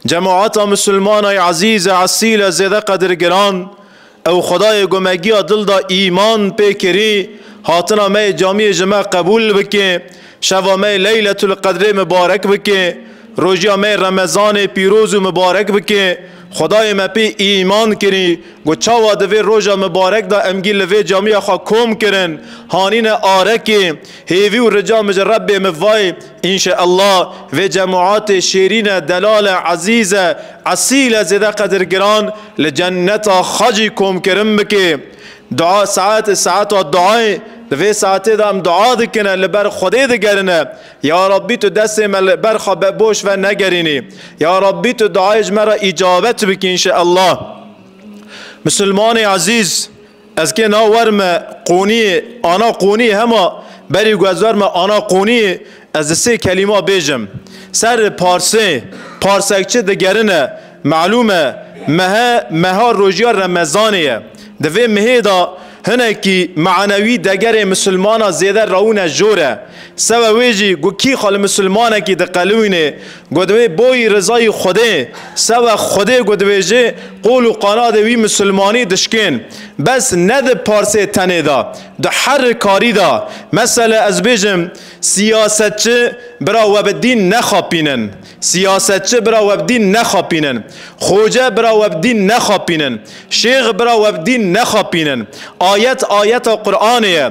Cemata Musulmana yê ezîz e esîl e zêde qedirgiran ew Xwedayê ku me giya dil da îman pê kirî hatina me yê camiyê ji me qebûl bike, şeva me yê Leyletul Qedrê mibarek bike, rojiya me yê Remezanê pîroz û mibarek bike. Xwedayê me pê îman kirî ku çawa di vê roja mibarek da em gî li vê camiya xwe kom kirin, hanîne arekê, hêvî û rica min ji Rebbê mivayê, Înşe Allah vê cemaatê şêrîne delale ezîze esîle zêde qedir giran li ceneta xwe jî komkirin bike. Dua saet e saeta duayê di vê saetê de em dua dikine li ber Xwedê digerine ya Rabbî tu destê me li ber xwe bevoş ve negerînî ya Rabbî tu duayê ji me re îcabet bikî înşe Allah. Misilmanê ezîz! Ez kê na wer me qoniyê, ana qoniyê hema berî ku ez wer me ana qoniyê ez di sê kelîma bêjim. Serri Parsê, Parsek çi digerine melûm e, mehe meha rojîya Remezanê ye. Di vê mihê da hinekî manewî degerê misilmana zêde rewine jor e. Sebe wê jî ku kî xwe li misilmanekî diqelûînê Ku divê boyî rizayî Xwedê, sewe Xwedê ku dibêjê, qol û qanadê wî misilmanî dişkên. Bes ne di parsê tenê de, di her rikarî de. Mesele ez bêjim, siyasetçi bira we bi dîn nexapînin. Siyasetçi bira we bi dîn nexapînin. Xoce bira we bi dîn nexapînin. Şêx bira we bi dîn nexapînin. Ayet ayeta Quranê ye.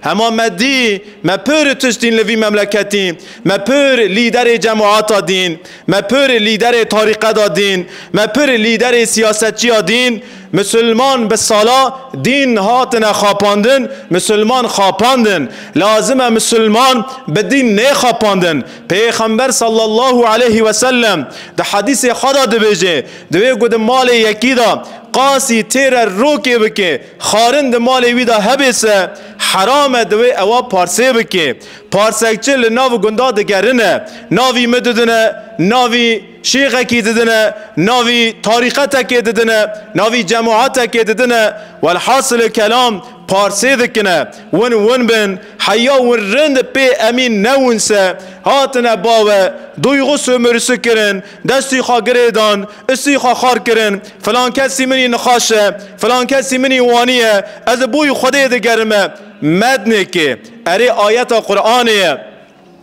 Hema me dî, me pir tiştîn li vî memleketî, me pir lîderê cemata dîn, me pir lîderê tarîqeda dîn, me pir lîderê siyasetçiya dîn, misilman bi sala dîn hatine xapandin, misilman xapandin, lazim e misilman bi dîn nêxapandin. Pêxember sallallahu aleyhi ve sellem di hedîsê xwe de dibêje, Divê ku di malê yekî de qasî têre rokê bike, Xarin di malê wî de hebê se heram e divê ewa parsê bike. Parsekçe li nav gunda digerine. Navî min didine, navî şêxekî didine, navî tarîqetekê didine, navî cemaetekê didine. Welhasilê kelam parsê dikine. Win win bin heya win rind pê emîn newin se hatine bawe, duygu sömürüsi kirin, destî xwe girê dan, Isî xwe xar kirin, filan kesî minî nixaş e, filan kesî minî wanî ye, ez li bo yî Xwedê digerime. Mednêkê, erê ayeta Quranê ye.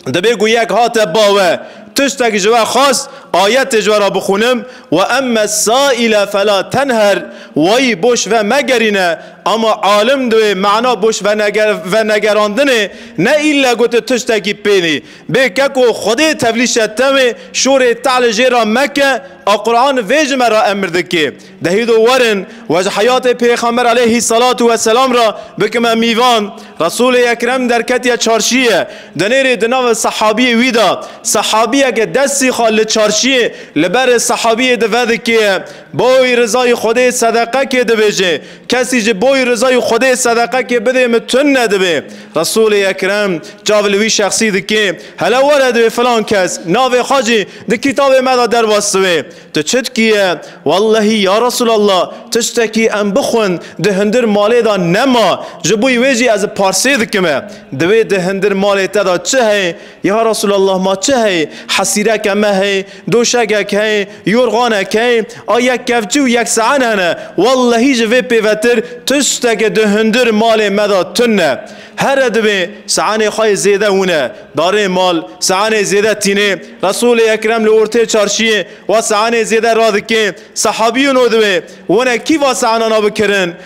Dibê ku yek hate ba we, tiştek ji we xwest, ayetê ji we re bixwînim, Ve emme saîle fela tenher, wayî boş ve megerîne, ama alim di wê mana boş venegerandinê ne îlle gotin tiştekî pênî. Bê keko Xwedê tevlîşe te wê şorê te li jê ra meke a Quran vê ji me ra emir dike. Dehî do werin we ji heyatê Pêxember aleyhî selatû we selam ra bikime mîvan. Resûlê Ekrem derketiye çarşiyê denêrê di navê sehabiyê wî de sehabiyeke destî xwe li çarşiyê li berê sehabiyê di vedikê boy rizayî Xwedê sedeqe kê dibêje Kesî ji boî rizayê Xwedê sedeqekê bidê min tund nedibe. Resûlê Ekrem çav li wî şexsî dike, Hele were divê filan kes, navê xwe jî di kitabê me de derbas dibe. Tu çi dikî ye? Wellehî ya Resûlallah tiştekî em bixwin di hundir malê de nema, ji boî wê jî ez parsê dikim e, divê di hundir malê te de çi heye? Ya Resûlallah ma çi heye? Hesîreke me heye, doşegek heye, yorganek heye, a yek kevçî û yek se'en hene. Wellehî ji vê pêvetir tişteke di hundir malê me de tune. Here divê se'enê xwe yê zêde wune darê mal, se'enê zêde tînê. Resûlê Ekrem li ortê çarşiyê wa se'enê zêde radikê. Sehabiyên o divê wune kî va se'enana bikirin?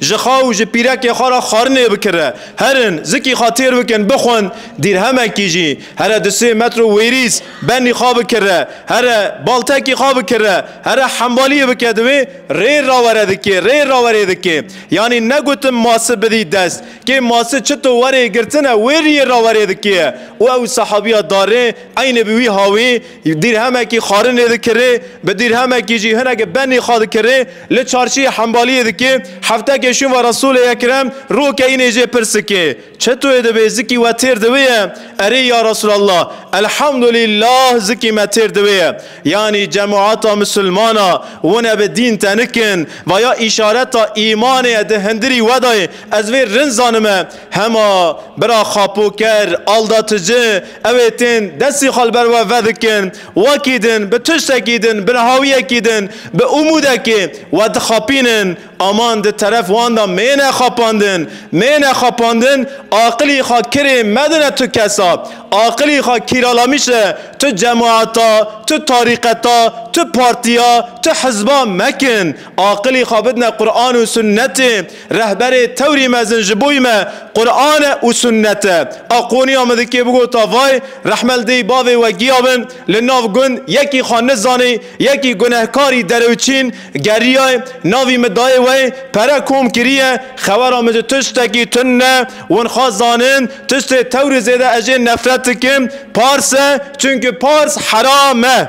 Ji xwe û ji pîrekê xwe re xwarinê bikire, herin, zikî xwe têr bikin, bixwin, dîrhemekî jî, here du sê metr û wêrîs, benî xwe bikire, here, baltekî xwe bikire, here hembaliyê bike divê, rê rawere dikê, rê rawerê dikê. Yanî negotin masi bidî dest, kê masi çito werê girtine wê riyê rawerê dikê ye û ew sahabiya darê eynê bi wî hawî, Dîrhemekî xwarinê dikirê, bi dîrhemekî jî hinekî benî xwe dikirê, li çarçîyê hembalîyê dikê, heftekê şûn ve Resûlê Ekrem roke înê jê pirs dikê, Çi tu yê dibê? Zikî we têr di wê ye? Erê ya Resûlallah! Elhamdulîllah zikî me têr di wê ye. Yanî cemûata misilmana wine bi dîn tenik in, vaya îşareta îmanê ye di hindirî we de ye, ez vê rind zanime, Hema bira xapoker Alda Tici ew ê tên destî xwe li ber we vedikin, wekî din bi tiştekî din, bi nihawiyekî din, bi umûdekê we dixapînin. Aman di teref wan de mêne xapandin, mêne xapandin, aqilî xwe kirê medine tu kesa, aqilî xwe kîralamişe tu cemaeta, tu tarîqeta, tu partiya, tu hizba mekin. Aqilî xwe bidine Quran û Sunnetê. Rehberê tewrî mezin ji boî me Quran e û sunnet e. A qoniya min dikê bigota vay rehmel dêy bavê we giya bin li nav gund yekî xwe nizanî yekî gunehkarî derewçîn geriyay navî min dayê we pere kom kiriye xewera min ji tiştekî tund ne win xwe zanin tiştê tewrî zêde ez jê nefret dikim pars e çunki pars heram e.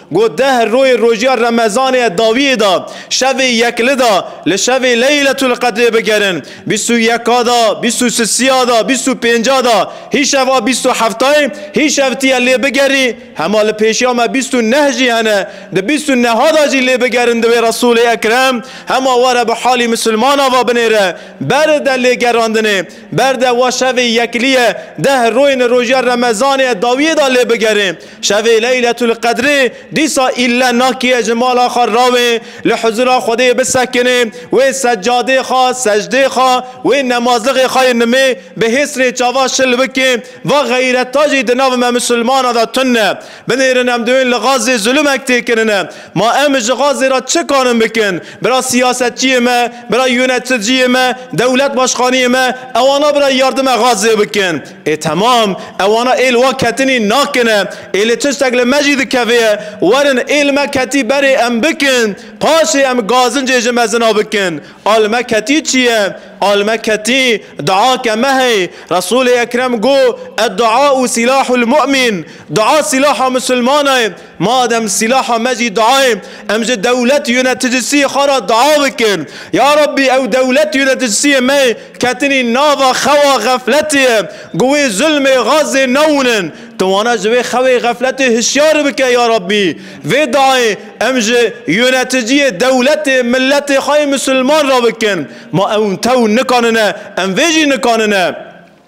Got deh royê rojiya remezanê ye dawiyê da şevê yek li da li şevê leyletul-qedrê bigerin, bîst û yeka da, bîst û sisiya da, bîst û pênca da, hîşev a bîst û heftayê hîşev tiye lê bigerî, hema li pêşiya me bîst û neh jî hene di bîst û neha da jî lê bigerin divê Resûlê Ekrem hema were bi halî misilmana va binêre ber de lê gerandinê ber de wa şevê yekliye deh royên rojiya remezanê ye dawiyê da lê bigerê Şevê Leyletul Qedrê dîsa îlle nakiye ji mala xwe rawê li huzûra Xwedê bisekine, wê seccadê xwe, secdê xwe, wê nemazixê xwe yê nimê bi hês rê çava şil bike, va xeyreta jî di nav me misilmanan de tund e. Binêrin em duyên li Xazzê zulumek tê kirine. Ma em ji Xazzê re çi karin bikin? Bira siyasetçiyê me, bira yoneticiyê me, dewlet başxaniyê me, ewana bira yardime Xazzê bikin. Ê temam, ewana ê li wa ketinî nakine, ê li tiştek li me jî dikevê, werin ê li me ketî berê em bikin, paşê em gazincê ji mezina bikin. A li me ketî çi ye? A li me ketî dua ke me hey. Resûlê Ekrem got, Edduâ'u silâhul mu'min, dua silâha misilmana ye. Madem sîlaha me jî dua ye, em ji dewlet yoneticisiyê xwe re dua bikin. Ya Rabbî ew dewlet yoneticisiyê me yê ketinî nava xewa xefletê ye, ku wê zulmê Gazê newinin. Tu wana ji wê xewê xefletê hişyar bike ya Rabbî. Vê duayê em ji yoneticiyê dewletê miletê xwe yê misilman re bikin. Ma ew tew nikanine, em vê jî nikanine.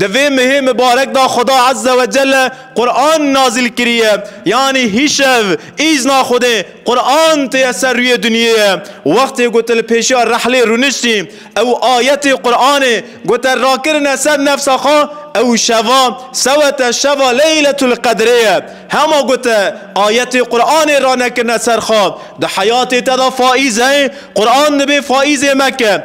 Di vê mehê mibarek de Xweda Ezze we Celle Quran nazil kiriye, yanî hîşev, îzna Xwedê, Quran têye ser rûyê dinyêye. Wextê ku tu li pêşiya rehlê rûniştî, ew ayetê Quranê ku te rakirine ser nefsa xwe, ew şeva, sewete şeva Leyletulqedrê ye. Hema ku te ayetê Quranê ranekirine ser xwe, di heyatê te de faîz heye, Quran dibê faîzê me ke,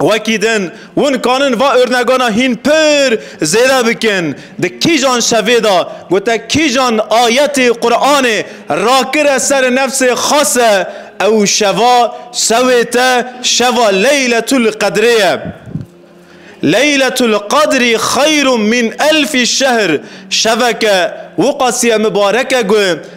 Wekî din û nikanin va urnegona hîn pir zêde bikin. Di kîjan şevê de ku te kîjan ayetê Quranê rakire ser nefsê xase ew şeva şewê te şeva Leyletulqedrê ye. Leyletulqedrî xeyrû mîn elfî şehr şeveke wiqasîye mibareke ku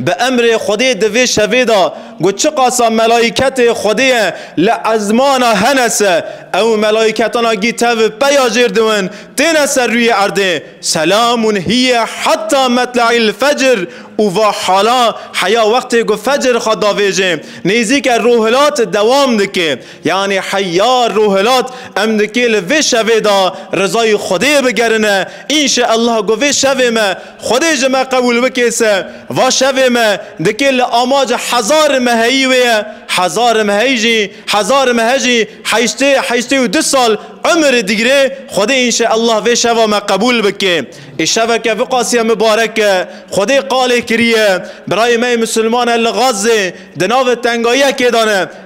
Bi emrê Xwedê di vê şevê de got çiqasa melaîketê Xwedê ye li ezmana Henese, ew melaîketana gî tev peya jêr diwin têne ser rûyê erdê, Selamun hîye heta metle'il fecr û va hala heya wextê ku fecr xwe davêjê nêzîke rûhilat dewam dike, yanî heya rûhilat em dikê li vê şevê de rizayê Xwedê bigerine, înşeellah ku vê şevê me Xwedê ji me qebûl bike se va şevê me dike li amaca hezar im heyî wê ye, hezar im heyî jî hezar im he jî heştê heştê û du sal umir digire, Xwedê înşeellah vê şeva me qebûl bike. Ê şeveke viqasiye mibarek e. Xwedê qalê kiriye birayê me yê misilmane li Gazê di navê tengayiyekê de ne.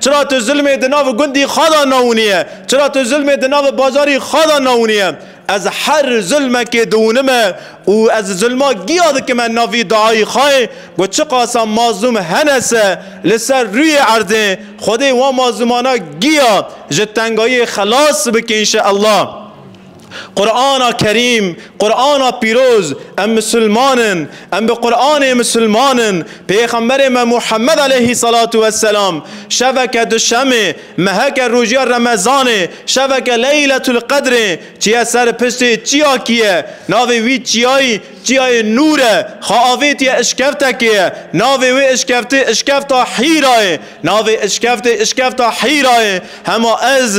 Çira tu zilmê di nav gundî xwe de newiniye? Çira tu zilmê di nav bajarî xwe de newiniye? Ez her zilmekê diwinime û ez zilma giya dikime navî dayî xwe ku çiqasa mazlûm hene se li ser rûyê erdê, Xwedê wan mazlûmana giya ji tengayiyê xelas bike înşeellah. Qur'ana Kerîm, Qur'ana Pîroz, em misilman in, em bi Qur'anê misilman in, pêxemberê me Muhammed aleyhî selatu weselam şeveke duşemê, meheke rojiya remezanê, şeveke leyletul qedrê çiye ser piştê çiyakî ye, navê wî çiyayî çiyayê nûr e, xwe avêtiye işkevtekê ye, navê wê işkevtê işkevta Hîrayê, navê işkevtê işkevta Hîrayê, hema ez,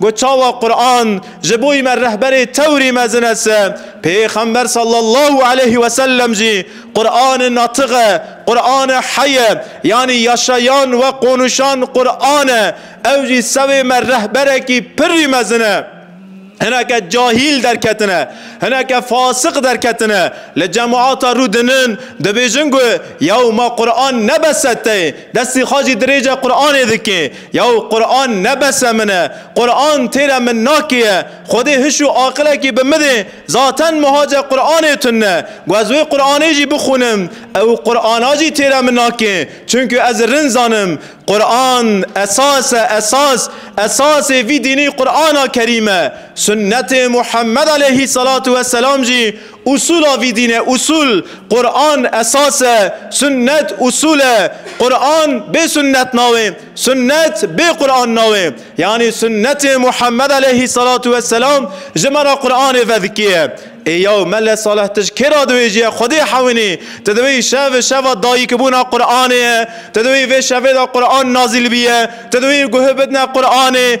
Got çawa Quran ji bo me rehberê tewrî mezin es e, Pêxember sallallahu aleyhi ve sellem jî Qurani natık e, Qurani hey e, yanî yaşayan we qonuşan Quran e, ew jî sewê me rehberekî pirrî mezin e. Hineke cahîl derketine, hineke fasik derketine, li cemaata rû dinin, dibêjin ku yaw ma Quran ne bes e tê, destê xwe jî dirêje Quranê dikê. Yaw Quran ne bese min e, Quran têra min nakîye, Xwedê hiş û aqilekî bi midê, zaten muhace Quranê tun e, gu ez wê Quranê jî bixwînim, ew Qurana jî têra min nakê, çunku ez rind zanim, Quran esas e esas, esasê vî dînî Qurana Kerîm e, Sunnetê Muhammed aleyhî selatû weselam jî Usul a vî dîn e, usul, Quran esas e, sunnet usul e, Quran bê sunnet nawê, sunnet bê Quran nawê. Yanî sunnetê Muhammed aleyhî selatu ve selam ji me re Quranê vedikê ye. Ê yaw Mele Saleh tu ji kê re dibêjîye Xwedê hewinî? Tu dibêjî şev şeva dayîkibûna Quranê ye, tu dibêjî vê şevê de Quran nazîl bîye, tu dibêjî guhi bidine Quranê,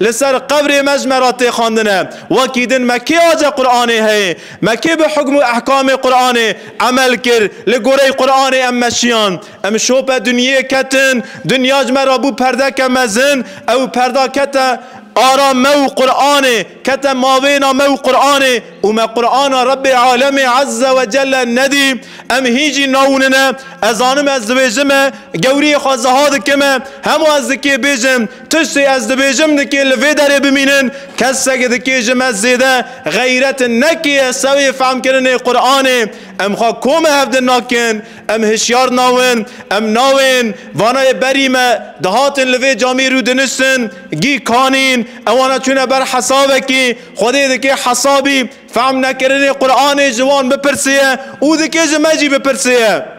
Li ser qebrê me ji me re tê xwendine. Wekî din me kê ace Quranê heye? Me kê bi hukm û ehkamê Quranê emel kir? Li goreyê Quranê em meşiyan. Em şope dinyeyê ketin. Dinya ji me re bû perdeke mezin. Ew perda kete ara me û Quranê, kete mabêna me û Quranê û me Qurana Rebê Alemê Ezze we Celle nedî. Em hîn jî naûnine. Ez zanim ez dibêjime, gewriyê xwe ziha dikime. Hema ez dikê bêjim. Tiştê ez dibêjim dikê li vê derê bimînin, kesek dikê ji me zêde xeyret nekê ez sewê fehmkirinê Quranê, em xwe kome hev din nakin, em hişyar nawin, em nawên vanayê berî me dihatin li vê camî rû diniştin, gî kanîn, ewana çûne ber hesabekî, Xwedê dikê hesabî fehm nekirinê Quranê ji wan bipirsê ye û dikê ji me jî bipirsê ye.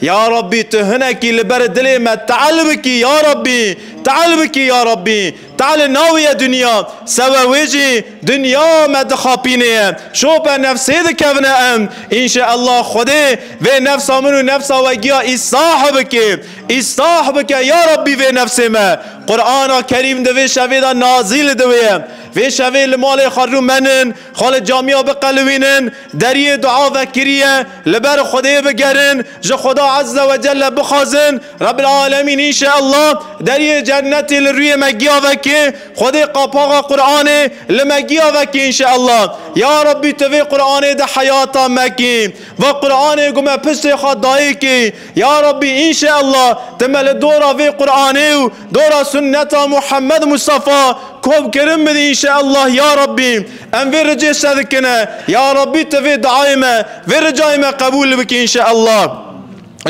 Ya Rabbî tu hinekî li ber dilê me teal bikî ya Rabbî, teal bikî ya Rabbî, tealê navê ye dinya, sewe wê jî dinya me dixapînê ye, şope nefsê dikevine em, înşe ella Xwedê vê nefsa min û nefsa we giya îslah bike, îslah bike ya Rabbî vê nefsê me. Qur'ana Kerîm di vê şevê de nazîl diwêye. Vê şevê li malê xwe rû menin. Xwe li camiya biqelivînin, deriyê dua vekiriye, li ber Xwedê bigerin, ji Xweda Ezze we Celle bixwazin, Rebbil Alemîn înşe Allah deriyê cennetê li rûyê me giya veke, Xwedê qapaxa Quranê li me giya veke înşe Allah, ya Rabbî tu vê Quranê di heyata me kî, va Quranê ku me piştê xwe dayê kî, ya Rabbî înşe Allah tu me li dora vê Quranê û. Dora sunneta Muhammed Mustafa kom kirin bidî inşeellah ya Rabbî em vê ricê şe dikine ya Rabbî tu vê diayê me vê ricayê me qebûl bikî inşeellah.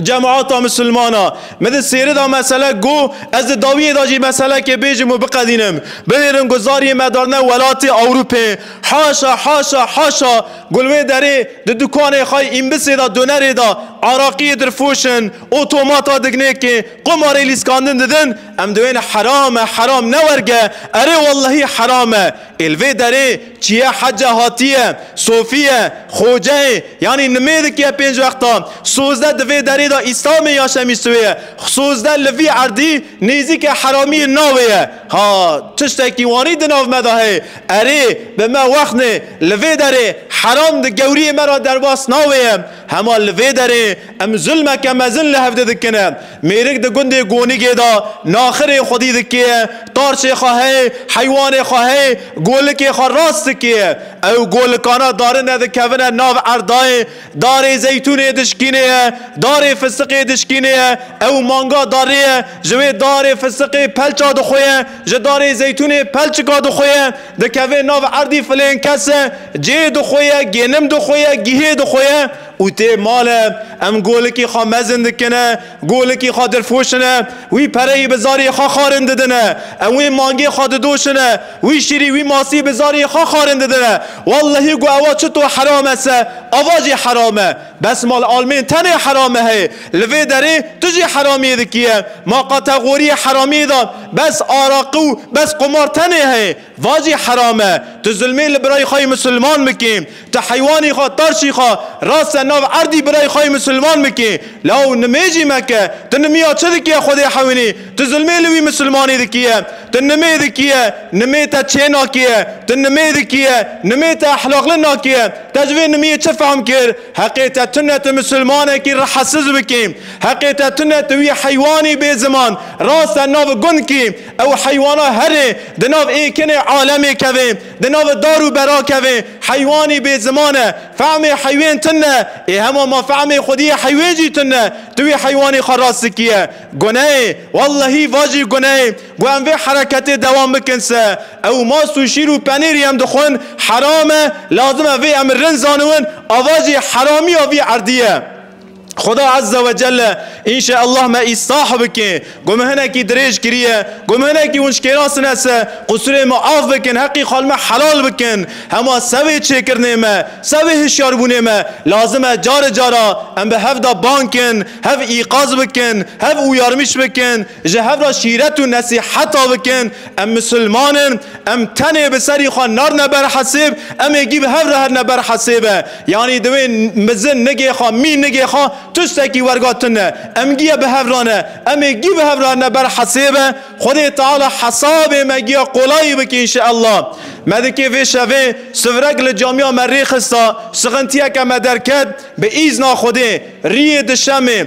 Cemata misilmana min di sêri da mesele got ez di dawiyê da jî meselekê bêjim û biqedînim binêrin ku zariyê me darine welatê Ewrûpê haşa haşa haşa ku li wê derê di dukanê xay îmbisê da donerê da araqiyê dirfoşin Otomata dignêkê qomarê lîskandin didin, em diwêne heram e, heram ne werge, erê wellehî heram e. Ê li vê derê çiye hece hatiye, sofiye, xoceyê yanî nimêdik ye pênc wexta, sozde di vê derê de îslamê ya şemîstûyê ye, sozde li vî erdî nêzîke heramiyên navê ye. Ha tiştekî wanî di nav me de heye, erê bi me wexnê, li vê derê heram di gewriyê me re derbas navê ye. Hema li vê derê Em zulmeke mezin li hev de dikin. Mêrik di gundê Gonigê de naxirê xwedî dikê, tarçê xwe heye, heywanê xwe heye, golikê xwe rast dikê. Ew golikana darine dikevine nav erdayê, darê zeytûnê dişkînê ye, darê fistiqê dişkînê ye, ew manga darê ye, ji wê darê fistiqê pelça dixwe ye, ji darê zeytûnê pelçika dixwe ye, dikeve nav erdî filên kese, cê dixwe ye, gênim dixwe ye, gihê dixwe ye. Û tê male em golikî xwe mezin dikine, golikî xwe dirfoşine, wî pereyî bi zarê xwe xarin didine. Em wê mangê xwe didoşine, wî şîrî wî masî bi zarê xwe xarin didine. Wellehî ku ewa çito heram e se ava jî heram e. Bes mal almên tenê herame heye. Li vê derê tu jî heramiyê dikiye. Ma kategoriyê heramiyê da bes araqi û bes qumar tenê heye. Va jî heram e. Tu zulmê li birayê xwe yê misilman bikê. Ti heywanê xwe, tarşî xwe rase nav erdî birayê xwe yê misilman bikê. Law nimêjî meke. Ti nimiya çi dikî ye Xwedê hewînê? Ti zilmê li wî misilmanê dikî ye. Ti nimê dikî ye. Nimê te çê nakê ye. Ti nimê dikî ye. Nimê te ehlaqli nakê ye. Te ji vê nimiyê çi fehm kir? Heqê te tune ti misilmanekî rehesiz bikî. Heqê te tune ti wî heywanî bê ziman rase nav gund kî. Ew heywana herê di nav ê kinê alemê kevê. Di nava dar û berakevê heywanî bê ziman e. Fehmê heywan tund e. Ê hema ma fehmê xwediyê heywan jî tund e. Tu wê heywanê xwe rast dikiye. Guneyê. Wellehî va jî guneyê. Ku em vê hereketê dewam bikin se. Ew mas û şîr û penêrî em dixwin heram e. Lazim e vê em rind zaniwin. Ava jî heramiya vî erdî ye. Xuda Azze ve Celle înşe Allah me îslah bike. Ku me hinekî dirêj kiriye, ku me hinekî hûn şkêrasine se, qusûrê me af bikin, heqî xal me helal bikin. Hema sevê çêkirinê me, sevê hişyarbûnê me lazim e cari cara em bi hev de bang kin, hev îqaz bikin, hev û yarmîş bikin, Ji hev re şîret û nesîheta bikin, em misilman in, em tenê bi serî xwe narine ber hesêb, em ê gî bi hev re herine ber hesêbe. Yanî divê mizin nigê xwe, mî nigê xwe tiştekî werga tun e. Em gî ye bi hev re ne, em ê gî bi hev re herine ber hesêbe. Xwedê Teala hesabê me gîya qolayî bike înşeellah. Me di kê vê şevê sivrek li camiya me rê xista, sixintiyeke me derket, bi îzna Xwedê riyê di şemê,